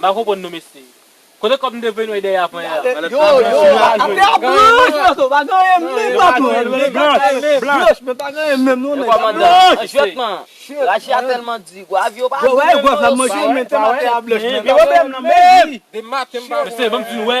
M pa konprann nou mesye. Kote kòb mte voye nou dèyè aprè a. Mesye banm di nou wè.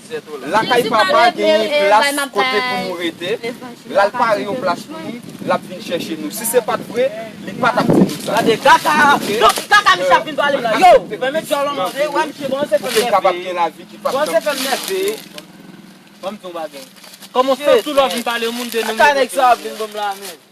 Lakay papa genyen plas kote pou nou rete, lal pare yon plas pou nou, lap vin chèche nou. Si se pat vre, li pa tap di nou sa. Pou ke n kapab gen lavi ki pap janm fini.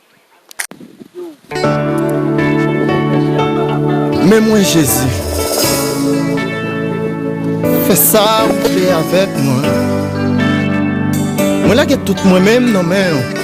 Men mwen Jezi, fè sa ou vle avèk mwen. Mwen lage tout mwen menm nan men ou.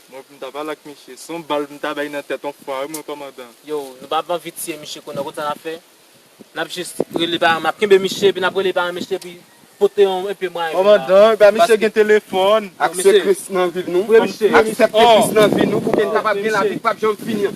Mwen pou m ta pale ak misye son bal m ta bay nan tèt on fwa wi mwen kòmandan. Yo nou pa ap anvi tiye misye kounye kot sa nap fè nap jis rele paran nap kenbe misye epi nap rele paran misye epi pote yon enpe mwayen pou la Kòmandan ebyen misye gen telefòn. Aksepte kris nan vi nou pou ke n kapab gen lavi k pap janm fini an.